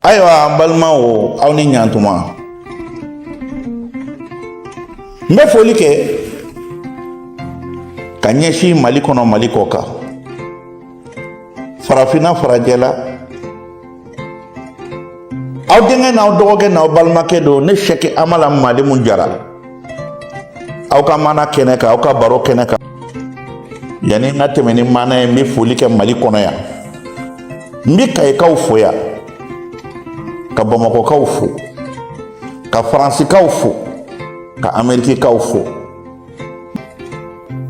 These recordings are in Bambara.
ayiwa an balima o aw ni ɲantuma n bɛ foli kɛ ka ɲɛsin mali kɔnɔ mali kɔ kan farafinna farajɛla aw denkɛ n'aw dɔgɔkɛ n'aw balimakɛ don ne sɛki amala malimu jara aw ka maana kɛnɛ kan aw ka baro kɛnɛ kan yanni n ka tɛmɛ ni maana ye n bɛ foli kɛ mali kɔnɔ yan n bɛ kayikaw fo yan ka bamakɔkaw fo ka faransikaw fo ka amerikikaw fo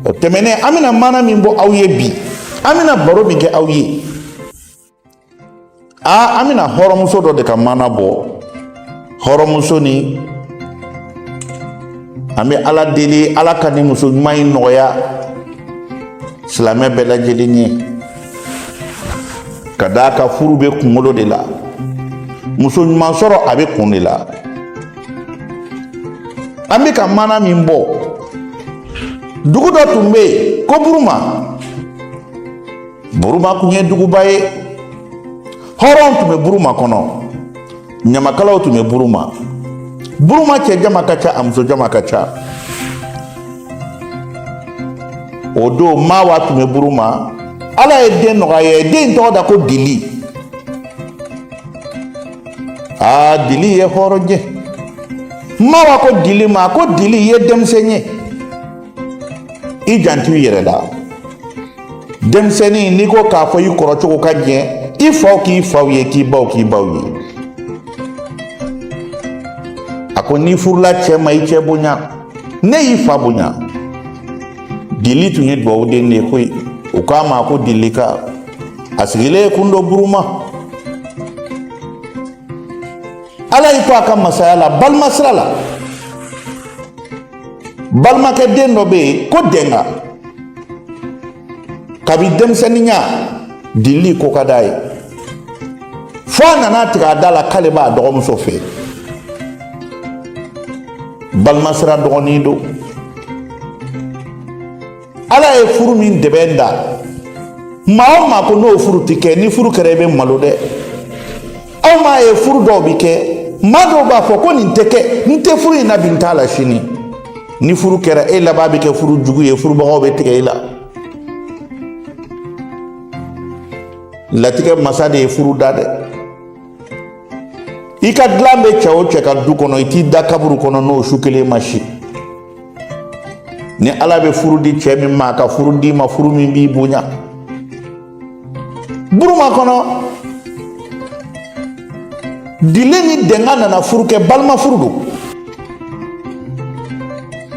o tɛmɛnen an bɛna maana min bɔ aw ye bi an bɛna baro min kɛ aw ye aa an bɛna hɔrɔnmuso dɔ de ka maana bɔ hɔrɔnmuso ni an bɛ ala deli ala ka ni muso ɲuman in nɔgɔya silamɛ bɛɛ lajɛlen ye ka d'a kan furu bɛ kunkolo de la muso ɲuman sɔrɔ a bɛ kun de la an bɛ ka maana min bɔ dugu dɔ tun bɛ yen ko buruma Buruma kun ye duguba ye hɔrɔn tun bɛ buruma kɔnɔ ɲamakalaw tun bɛ buruma buruma cɛ jama ka ca a muso jama ka ca o don mawa tun bɛ buruma ala ye den nɔgɔya a ye den tɔgɔ da ko dili aa dili ye hɔrɔn ye mawa ko dili ma ko dili i ye denmisɛn ye i janto i yɛrɛ la denmisɛnnin n'i ko k'a fɔ i kɔrɔ cogo ka ɲɛ i faw k'i faw ye k'i baw k'i baw ye a ko n'i furula cɛ ma i cɛ bonya ne y'i fa bonya dili tun ye dugawu den de ye koyi u k'a ma ko dilika a sigilen ye kun don buruma ala y'i to a ka masaya la balima sira la balimakɛ den dɔ bɛ yen ko dɛnga kabi denmisɛnninya dili ko ka d'a ye fo a nana a tigɛ a da la k'ale b'a dɔgɔmuso fɛ balimasira dɔgɔnin don ala ye furu min dɛbɛn da maa o maa ko n'o furu tɛ kɛ ni furu kɛra i bɛ malo dɛ aw m'a ye furu dɔw bɛ kɛ maa dɔw b'a fɔ ko nin tɛ kɛ n tɛ furu in na bi n t'a la sini ni furu kɛra e laban bɛ kɛ furu jugu ye furubagaw bɛ tigɛ i la latigɛ masa de ye furu da dɛ i ka dilan bɛ cɛ o cɛ ka du kɔnɔ i t'i da kaburu kɔnɔ n'o su kelen ma si ni ala bɛ furu di cɛ min ma ka furu d'i ma furu min b'i bonya buruma kɔnɔ dili ni dɛnga nana furu kɛ balima furu don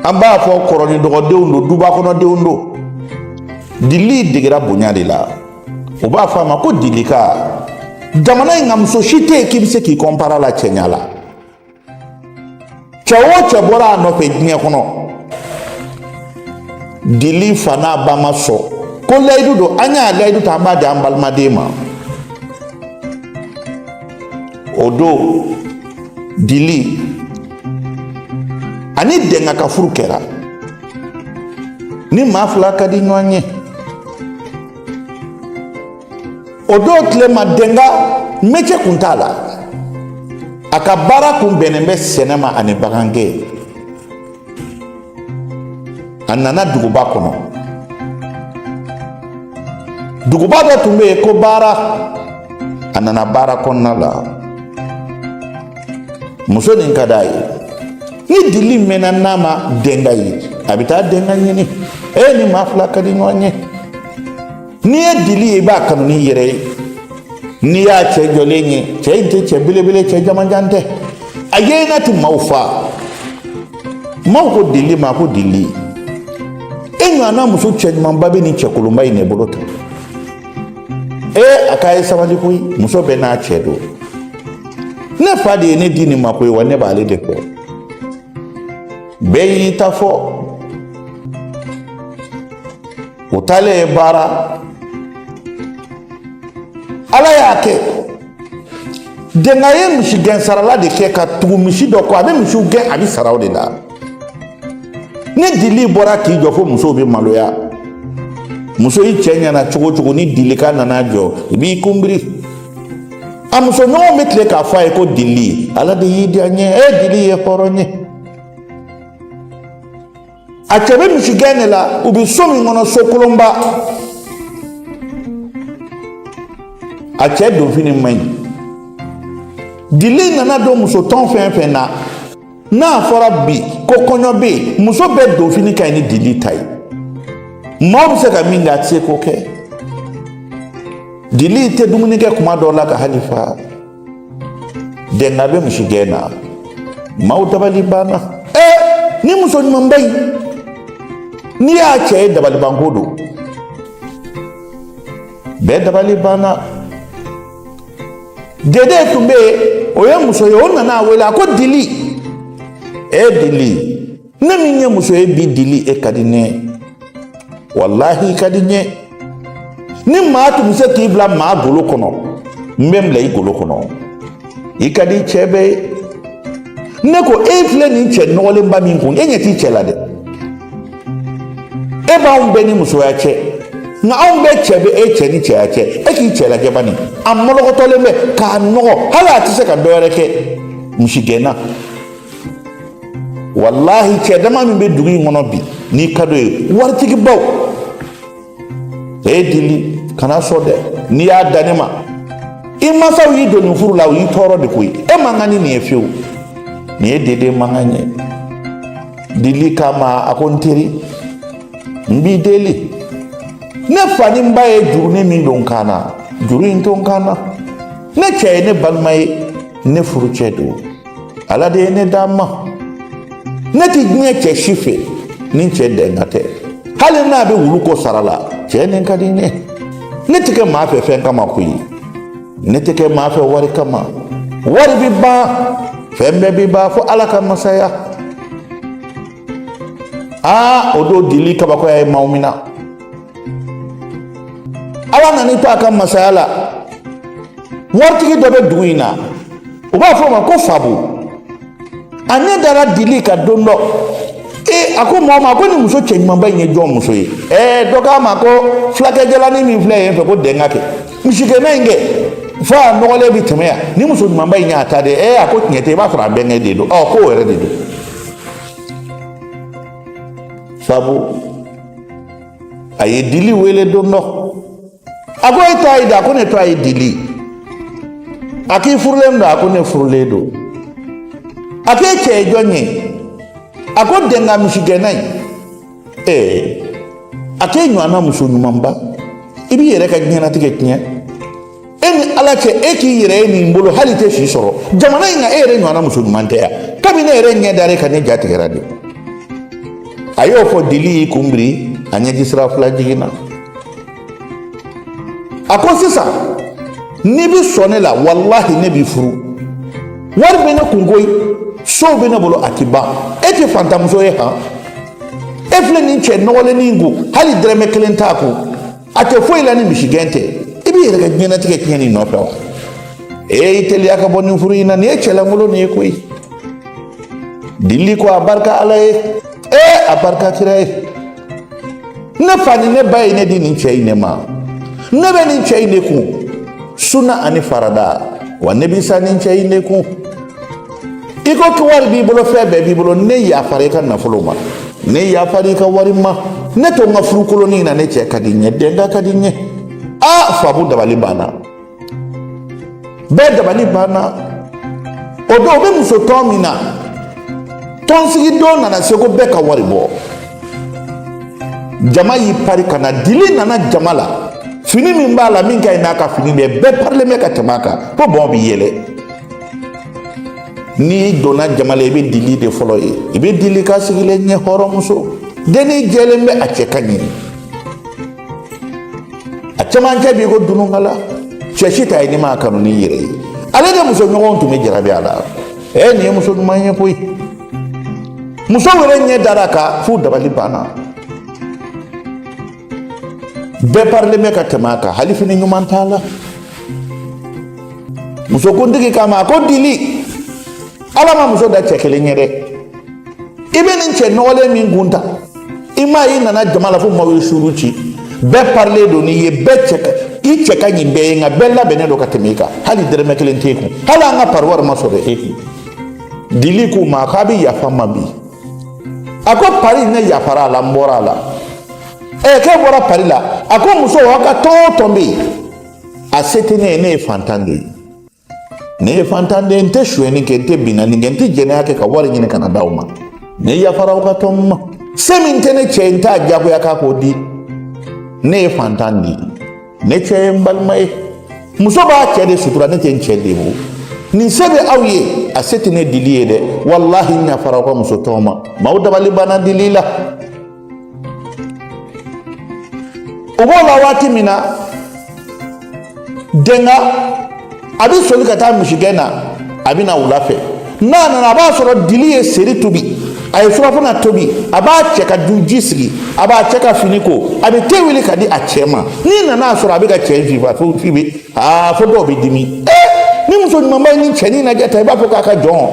an b'a fɔ kɔrɔ ni dɔgɔdenw don duba kɔnɔdenw don dili degera bonya de la u b'a fɔ a ma ko dilika jamana in ka muso si tɛ yen k'i bɛ se k'i kɔnpara la cɛɲa la cɛ o cɛ bɔra a nɔfɛ diɲɛ kɔnɔ dili fa n'a ba ma sɔn ko layidu don an y'a layidu ta an b'a di an balimaden ma o don dili ani dɛnga ka furu kɛra ni maa fila ka di ɲɔgɔn ye o don tile ma denga mɛcɛ kun t'a la a ka baara kun bɛnnen bɛ sɛnɛ ma ani bagangɛn a nana duguba kɔnɔ duguba dɔ tun bɛ yen ko baara a nana baara kɔnɔna la muso nin ka d'a ye ni dili mɛnna n'a ma denga ye a bɛ taa denga ɲini e ni maa fila ka di ɲɔgɔn ye n'i ye dili ye i b'a kanu n'i yɛrɛ ye n'i y'a cɛ jɔlen ye cɛ in tɛ cɛ belebele cɛ jamanjan tɛ a yeena tɛ maaw fa maaw ko dili ma ko dili e ɲɔgɔnna muso cɛɲumanba bɛ nin cɛkolonba in de bolo tan ee a k'a ye sabali koyi muso bɛɛ n'a cɛ don ne fa de ye ne di nin ma koyi wa ne b'ale de kɔ bɛɛ y'i ta fɔ o taalen ye baara ala y'a kɛ denga ye misigɛn sarala de kɛ ka tugu misi dɔ kɔ a bɛ misiw gɛn a bɛ sara o de la ni dili bɔra k'i jɔ fo musow bɛ maloya muso i cɛ ɲɛna cogo o cogo ni dilika nana jɔ i b'i kunbiri a musoɲɔgɔn bɛ tile k'a fɔ a ye ko dili ala de y'i diya n ye e dili ye hɔrɔn ye a cɛ bɛ misigɛn de la u bɛ so min kɔnɔ so kolonba a cɛ donfini man ɲi dili nana don musotɔn fɛn fɛn na n'a fɔra bi ko kɔɲɔ bɛ yen muso bɛɛ donfini ka ɲi ni dili ta ye maaw bɛ se ka min kɛ a tɛ se k'o kɛ dili tɛ dumuni kɛ kuma dɔw la ka hali fa dɛnga bɛ misi gɛn na maaw dabali banna ɛɛ nin muso ɲumanba in n'i y'a cɛ ye dabalibanko don bɛɛ dabali banna dede tun bɛ yen o ye muso ye o nana a wele a ko dili e dili ne min ye muso ye bi dili e ka di ne ye walahi i ka di n ye ni maa tun bɛ se k'i bila maa golo kɔnɔ n bɛ n bila i golo kɔnɔ i ka di cɛ bɛɛ ye ne ko e filɛ nin cɛ nɔgɔlenba min kun e ɲɛ t'i cɛ la dɛ e b'anw bɛɛ ni musoya cɛ nka anw bɛɛ cɛ bɛ e cɛ ni cɛya cɛ e k'i cɛ lajɛ bani a mɔlɔkɔtɔlen bɛ k'a nɔgɔ hali a tɛ se ka dɔ wɛrɛ kɛ misigɛnna walahi cɛ dama min bɛ dugu in kɔnɔ bi n'i ka d'o ye waritigibaw ee dili kana sɔn dɛ n'i y'a da ne ma i mansaw y'i don nin furu la u y'i tɔɔrɔ de koyi e man kan ni nin ye fiyewu nin ye dede mankan ye dili kama a ko n teri n b'i deli ne fa ni n ba ye jurunin min don n kan na juru in to n kan na ne cɛ ye ne balima ye ne furucɛ don ala de ye ne d'a ma ne tɛ diɲɛ cɛ si fɛ ni cɛ dɛnka tɛ hali n'a bɛ wulu ko sara la cɛ nin ka di n ye ne tɛ kɛ maa fɛ fɛn kama koyi ne tɛ kɛ maa fɛ wari kama wari bɛ ban fɛn bɛɛ bɛ ban fo ala ka masaya aa o don dili kabakoya ye maaw mina ala nan'i to a ka masaya la waritigi dɔ bɛ dugu in na u b'a fɔ o ma ko fabu a ɲɛ dara dili kan don dɔ e a ko mɔɔ ma ko nin muso cɛɲumanba in ye jɔn muso ye ɛɛ dɔ k'a ma ko fulakɛ jalannin min filɛ yen fɛ ko dɛnka kɛ misigɛnna in kɛ fo a nɔgɔlen bi tɛmɛ yan nin muso ɲumanba in y'a ta de ɛɛ a ko tiɲɛ tɛ i b'a sɔrɔ a bɛnkɛ de don ɔ ko wɛrɛ de don fabu a ye dili wele don dɔ a ko e tɔgɔ ye di a ko ne tɔgɔ ye dili a k'i furulen don a ko ne furulen don a k'e cɛ ye jɔn ye a ko dɛnka misigɛnna ye ee a k'e ɲɔgɔnna muso ɲumanba i b'i yɛrɛ ka diɲɛnatigɛ tiɲɛ e ni ala cɛ e k'i yɛrɛ ye nin bolo hali i tɛ si sɔrɔ jamana in kan e yɛrɛ ɲɔgɔnna muso ɲuman tɛ yan kabini ne yɛrɛ ɲɛ dara e kan ne ja tigɛra de a y'o fɔ dili y'i kun biri a ɲɛji sira fila jiginna a ko sisan n'i bɛ sɔn ne la walahi ne b'i furu wari bɛ ne kun koyi sow bɛ ne bolo a ti ban e tɛ fantanmuso ye han e filɛ nin cɛ nɔgɔlennin in kun hali dɛrɛmɛ kelen t'a kun a tɛ foyi la ni misigɛn tɛ i b'i yɛrɛ ka diɲɛnatigɛ tiɲɛ nin nɔfɛ wa ee i teliya ka bɔ nin furu in na nin ye cɛ lankolonnin ye koyi dili ko a barika ala ye ee a barika kira ye ne fa ni ne ba ye ne di nin cɛ in de ma ne bɛ nin cɛ in de kun sunna ani farada wa ne bɛ sa nin cɛ in de kun i ko ko wari b'i bolo fɛn bɛɛ b'i bolo ne yafara i ka nafolo ma ne yafara i ka wari ma ne to n ka furu kolonin na ne cɛ ka di n ye dɛnga ka di n ye a fabu dabali banna bɛɛ dabali banna o don o bɛ muso tɔn min na tɔnsigi don nana se ko bɛɛ ka wari bɔ jama y'i pari ka na dili nana jama la fini min b'a la min ka ɲi n'a ka fini bɛɛ bɛɛ parilen bɛ ka tɛmɛ a kan fo dɔw bɛ yɛlɛ n'i donna jama la i bɛ dili de fɔlɔ ye i bɛ dili ka sigilen ye hɔrɔnmuso dennin jɛlen bɛ a cɛ ka ɲi a cɛmancɛ b'i ko dununkala cɛ si t'a ye n'i m'a kanu n'i yɛrɛ ye ale de muso ɲɔgɔnw tun bɛ jarabi a la ɛ nin ye muso ɲuman ye koyi musow yɛrɛ ɲɛ dara a kan f'u dabali banna bɛɛ parilen bɛ ka tɛmɛ a kan hali fini ɲuman t'a la musokuntigi k'a ma a ko dili ala ma muso da cɛ kelen ye dɛ i bɛ nin cɛ nɔgɔlen min kun tan i m'a ye i nana jama la fo maaw ye suuru ci bɛɛ parilen don n'i ye bɛɛ cɛ ka i cɛ ka ɲi bɛɛ ye nka bɛɛ labɛnnen don ka tɛmɛ i kan hali dɛrɛmɛ kelen t'e kun hali an ka pariwari ma sɔrɔ e kun dili k'u ma k'a bɛ yafa n ma bi a ko pari ne yafara a la n bɔra a la ɛɛ k'e bɔra pari la a ko muso aw ka tɔn o tɔn bɛ yen a se tɛ ne ye ne ye fantan de ye ne ye fantan de ye n tɛ sonyɛni kɛ n tɛ binkanni kɛ n tɛ jɛnɛya kɛ ka wari ɲini ka na d'aw ma ne yafara aw ka tɔn ma se min tɛ ne cɛ ye n t'a diyagoya k'a k'o di ne ye fantan de ye ne cɛ ye n balima ye muso b'a cɛ de sutura ne tɛ n cɛ lebu ni se bɛ aw ye a se tɛ ne dili ye dɛ walahi n yafara aw ka muso tɔn ma maaw dabali banna dili la. o b'o la waati min na dɛnga a bɛ soli ka taa misigɛn na a bɛ na wula fɛ n'a nana a b'a sɔrɔ dili ye seri tobi a ye surafana tobi a b'a cɛ ka duji sigi a b'a cɛ ka fini ko a bɛ te wuli ka di a cɛ ma n'i nana a sɔrɔ a bɛ k'a cɛ fifa f'i bɛ aa fo dɔw bɛ dimi ee nin muso ɲumanba ye nin cɛnin lajɛ tan i b'a fɔ k'a ka jɔn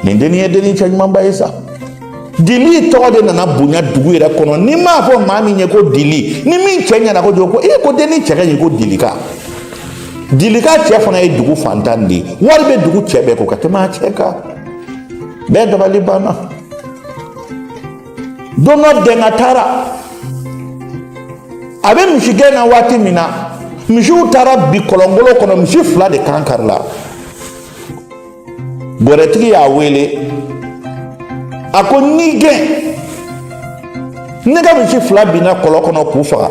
nin dennin ye dennin cɛ ɲumanba ye sa dili tɔgɔ de nana bonya dugu yɛrɛ kɔnɔ n'i m'a fɔ maa min ye ko dili nin min cɛ ɲɛna ko jɔn ko e ko dennin cɛ ka ɲi ko dili ka dili ka cɛ fana ye dugu fantan de ye wari bɛ dugu cɛ bɛɛ kun ka tɛmɛ a cɛ kan bɛɛ dabali banna don dɔ dɛnga taara a bɛ misigɛn na waati min na misiw taara bin kɔlɔnkolon kɔnɔ misi fila de kan karila Wɛrɛtigi y'a wele a ko n y'i gɛn ne ka misi fila binna kɔlɔn kɔnɔ k'u faga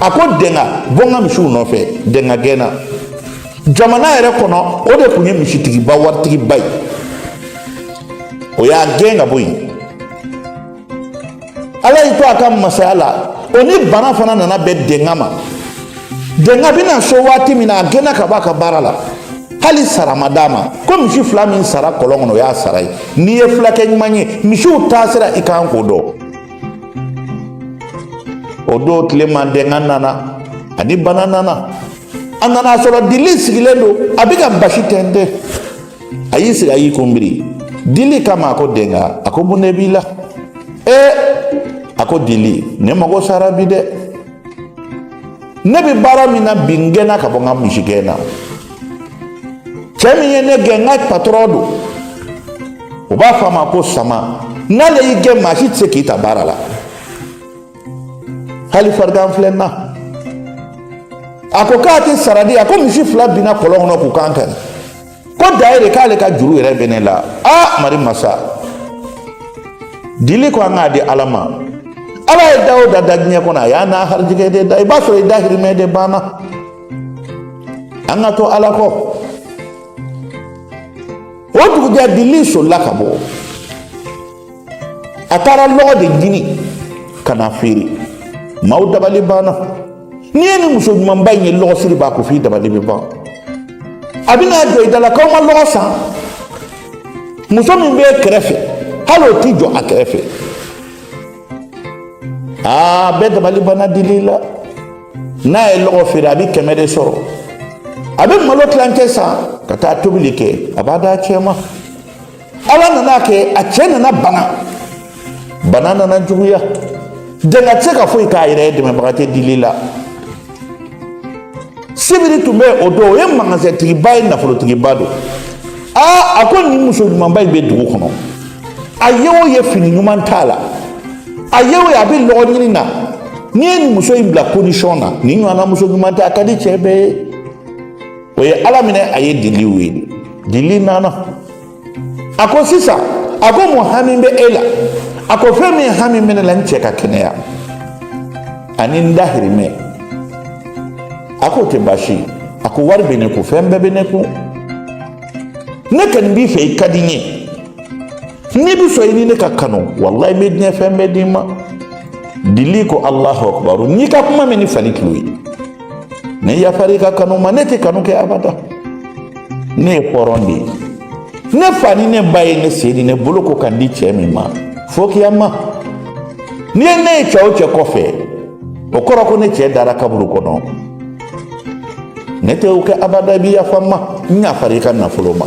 a ko dɛnga bɔ n ka misiw nɔfɛ dɛnga gɛnna jamana yɛrɛ kɔnɔ o de tun ye misitigiba waritigiba ye o y'a gɛn ka bɔ yen ala y'i to a ka masaya la o ni bana fana nana bɛn dɛnga ma dɛnga bɛ na so waati min na a gɛnna ka bɔ a ka baara la hali sara ma d'a ma ko misi fila min sara kɔlɔn kɔnɔ o y'a sara ye n'i ye fulakɛ ɲuman ye misiw taasira i kan k'o dɔn o don tile ma dɛnga nana ani bana nana a nana sɔrɔ dili sigilen don a bɛ ka basi tɛntɛn a y'i sigi a y'i kunbiri dili kama a ko dɛnga a ko mun de b'i la ee a ko dili ne mago sara bi dɛ ne bɛ baara min na bi n gɛnna ka bɔ n ka misigɛn na cɛ min ye ne gɛn n ka patɔrɔn don u b'a fɔ a ma ko sama n'ale y'i gɛn maa si tɛ se k'i ta baara la hali farigan filɛ n na a ko k'a tɛ sara di a ko misi fila binna kɔlɔn kɔnɔ k'u kan kari ko da yɛrɛ k'ale ka juru yɛrɛ bɛ ne la aa mari masa dili ko an k'a di ala ma ala ye da o da da diɲɛ kɔnɔ a y'a n'a harijigɛ de da i b'a sɔrɔ i dahirimɛ de banna an ka to ala kɔ o dugujɛ dili solila ka bɔ a taara lɔgɔ de ɲini ka n'a feere maaw dabali banna n'i ye nin muso ɲumanba in ye lɔgɔsiri b'a kun f'i dabali bɛ ban a bɛna jɔ i da la k'aw ma lɔgɔ san muso min bɛ kɛrɛfɛ hali o t'i jɔ a kɛrɛfɛ aa bɛɛ dabali banna dili la n'a ye lɔgɔ feere a bɛ kɛmɛ de sɔrɔ a bɛ malo tilancɛ san ka taa tobili kɛ a b'a d'a cɛ ma ala nana a kɛ a cɛ nana bana bana nana juguya dɛnga tɛ se ka foyi k'a yɛrɛ ye dɛmɛbaga tɛ dili la sibiri tun bɛ o don o ye magasɛntigiba ye nafolotigiba don aa a ko nin muso ɲumanba in bɛ dugu kɔnɔ a ye o ye fini ɲuman t'a la a ye o ye a bɛ lɔgɔɲini na n'i ye nin muso in bila condition na nin ɲɔgɔnna muso ɲuman tɛ a ka di cɛ bɛɛ ye o ye a laminɛ a ye dili wele dili nana a ko sisan a ko mun hami bɛ e la a ko fɛn min hami bɛ ne la n cɛ ka kɛnɛya ani n dahirimɛ a k'o tɛ baasi ye a ko wari bɛ ne kun fɛn bɛɛ bɛ ne kun ne kɔni b'i fɛ i ka di n ye n'i bɛ sɔn i ni ne ka kanu walayi n bɛ diɲɛ fɛn bɛɛ d'i ma dili ko alahu akubaru n y'i ka kuma mɛn ni fali tulo ye ne yafara i ka kanu ma ne tɛ kanu kɛ abada ne ye hɔrɔn de ye ne fa ni ne ba ye ne sen ni ne bolo ko ka n di cɛ min ma fo kiyama n'i ye ne ye cɛ o cɛ kɔfɛ o kɔrɔ ko ne cɛ dara kaburu kɔnɔ ne tɛ o kɛ abada i bɛ yafa n ma n yafara i ka nafolo ma